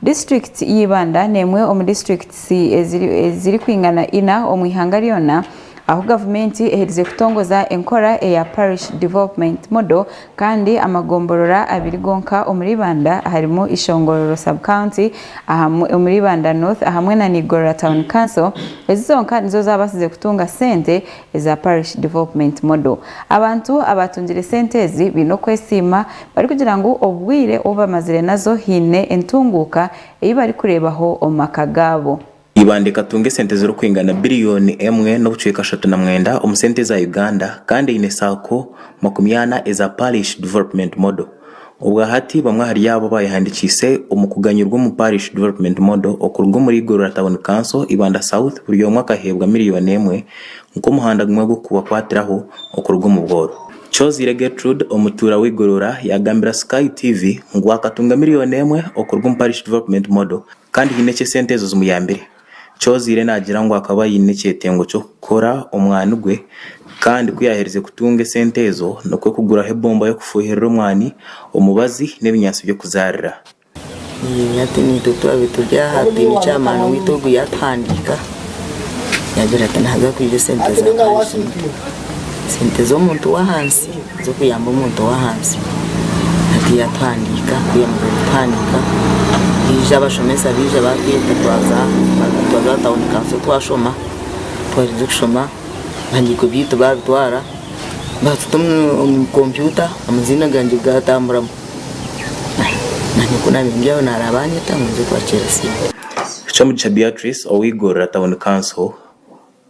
Disiturikiti y'Ibanda n'emwe omu disiturikiti ezirikwingana ina omu ihanga ryona, ahu gavumenti eherize kutongoza enkora eya Parish Development Model kandi amagomborora abiri gonka omuri Ibanda aharimu Ishongororo Sub-County omuri Ibanda North hamwe na Igorora Town Council, ezi zonka nizo zaabaasize kutunga sente Eza Parish Development Model. Abantu abaatungire sente ezi baine okwesiima barikugira ngu obwire obu bamazire nazo haine entunguuka ei barikureebaho omu maka gaabo. Ibanda ekatunga esente zirikwingana biriyooni emwe n'obucweka ashatu na mwenda omu sente za Uganda kandi eine saako makumi ana eza Parish Development Model. Obwahati bamwe ahari abo baayehandikiise omu kuganyurwa omu Parish Development Model okuruga omuri Igorora Town Council, Ibanda South, buri omwe akaheebwa miliyooni emwe nk'omuhanda gumwe gw'okubakwatiraho okuruga omu bworo. Choziire Gertrude, omutuura w'e Igorora yaagambira Sky TV ngu akatunga miliyooni emwe okuruga omu Parish Development Model kandi haine eki esente ezo zimuyambire. Choziire naagira ngu akaba aine ekyetengo ky'okukora omwani gwe kandi ku yaaherize kutunga esente ezo nikwo kuguraho ebomba y'okufuuhirira omwani, omubazi n'ebinyaatsi by'okuzaarira. Hati naitwe twaabaire turi aha twine chairman waitu ogu yaatuhandiika yaagira ati naaza kwija esente za kanshinga, esente z'omuntu w'ahansi. z'okuyamba omuntu ow'ahansi hati yatuhandiika tweyamazire kutuhandiika twija abashomesa baija batweta twaza aha tawuni kanso twashoma twarinze kushoma ebihandiiko byaitu babitwara batuta omu kompyuta amaziina gangye gatamburamu nanye ku nabiire ndyaho naraaba banyeta ngu nze kubaceera sente. Kyomugisha Beatrice ow'eigorora tawuni kanso.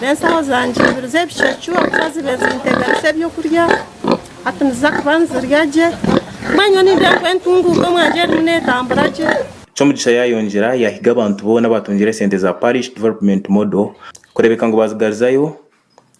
Reero enshaho zangye ibiri z'ebicwecwe ahabw'okuba zibaire zinteganisa eby'okurya, hati niziza kuba nizirya gye. Mbwenu nyowe nimbwira ngu entunguuka omu nju erimu neetambura gye. Kyomugisha yaayongyera yaahiga abantu boona abaatungire sente za Parish Development Model kureebeka ngu baazigarizayo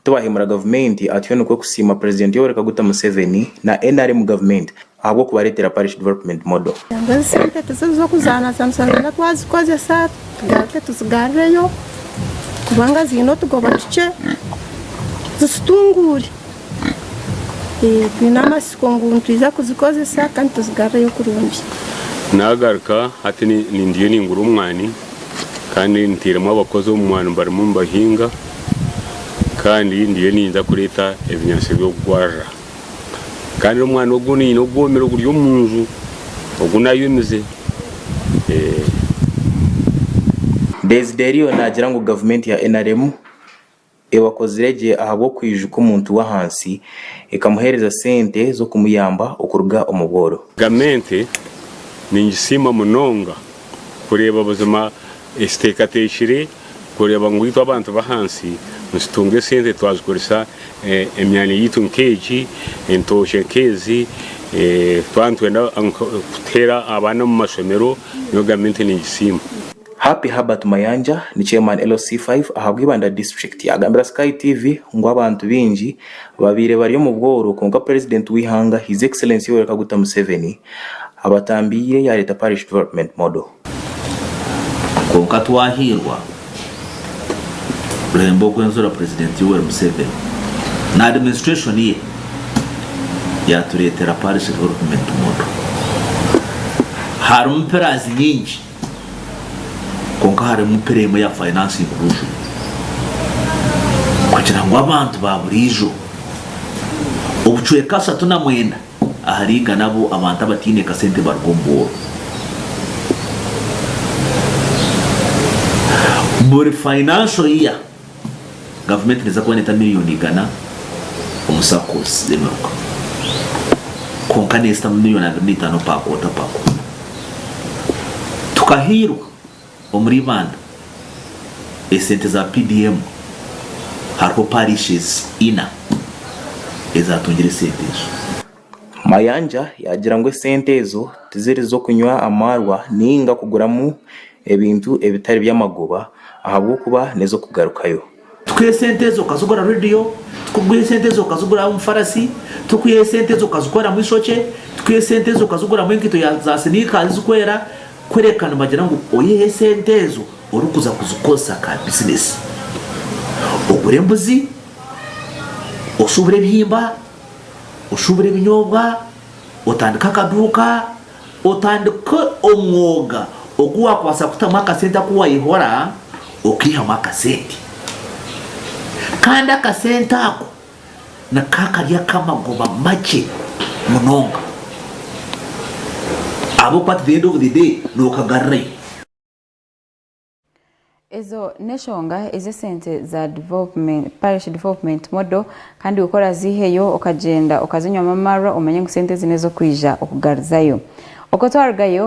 tibaahiimura gavumenti atyo nikwo kusiima Purezidenti Yoweri Kaguta Museveni na nrm gavumenti ahabw'okubareetera Parish Development Model. Nangwa ezi sente tiziz'okuzaanazaanisa nibenda twazikozesa tugaruke tuzigarreyo kubanga ziine otugoba tukye zitutunguure. Twine amatsiko ngu nitwija kuzikozesa kandi tuzigarreyo kurungi. Naagaruka hati nindiyo ningura omwani kandi ntairemu abakozi omu mwani barimu nibahinga kandi ndiyo ninyija kureeta ebinyaatsi by'okugwarira. Kandi n'omwana ogu nyine ogwomire oguri omu nju, ogu naayomize. Desideriyo naagira ngu gavumenti ya nrm ebakozire gye ahabw'okwijuka omuntu w'ahansi ekamuheereza sente z'okumuyamba okuruga omu bworo. Gavumenti ningisiima munonga kureeba buzima ekiteekateekire kureeba ngu itwe abantu b'ahansi nitutunga esente twazikoresa emyanya yaitu nk'egi, entookye nk'ezi, twaba nitwenda kuteera abaana omu mashomero niyo gavumenti neegisiima. Happy Herbert Mayanja ni Chairman LC5 aha Bwibanda District agambira Sky TV ngu abantu baingi Baabaire bari omu bworo kwonka purezidenti w'eihanga His Excellency Yoweri Kaguta Museveni abatambiire yaareeta Parish Development Model. Kwonka twahairwa kuremba okwenzura purezidenti Yoweri Museveni na administration ye yaatureetera Parish Development Model. Harimu pillars nyingi. kwonka harimu pira emwe ya Finance Inclusion kugira ngu abantu ba buriijo obucweka ashatu na mwenda ahari igana abu abantu abataine kasente baruga omu bworo. Buri financial year, Gavumenti neeza kuba neeta miriyoni igana omu SACCOS z'emiruka, kwonka neezitamu miriyoni abiri n'eitaano paakoota paakoota. Tukahairwa omuri Ibanda esente za PDM, hariho Parishes ina ezaatungire esente ezo. Mayanja yaagira ngu esente ezo tiziri z'okunywa amaarwa nainga kuguramu ebintu ebitari by'amagoba ahabw'okuba n'ez'okugarukayo. Tikuha esente ezo okazigura rediyo, tikuha esente ezo okaziguramu farasi, tikuha esente ezo okazikoramu eishokye, tikuha esente ezo okaziguramu enkaito za siniika zirikwera, kureka nibagira ngu oyihe esente ezo orikuza kuzikozesa ka bizineesi, ogure embuzi, oshubure ebihimba. oshubure ebinyobwa, otandike akaduuka, otandike omwoga ogu wakwasa kutamu akasente aku wayehora okeihamu akasente. Kandi akasente ako niko akari akamagoba makye munonga ahabw'okuba at the end of the day nokagarurayo. Ezo n'eshonga ezi esente za Parish Development Model kandi iwe ku oraziiheyo okagyenda okazinywamu amarwa omanye ngu sente ezi n'ez'okwija okugaruzayo. Okwo twarugayo,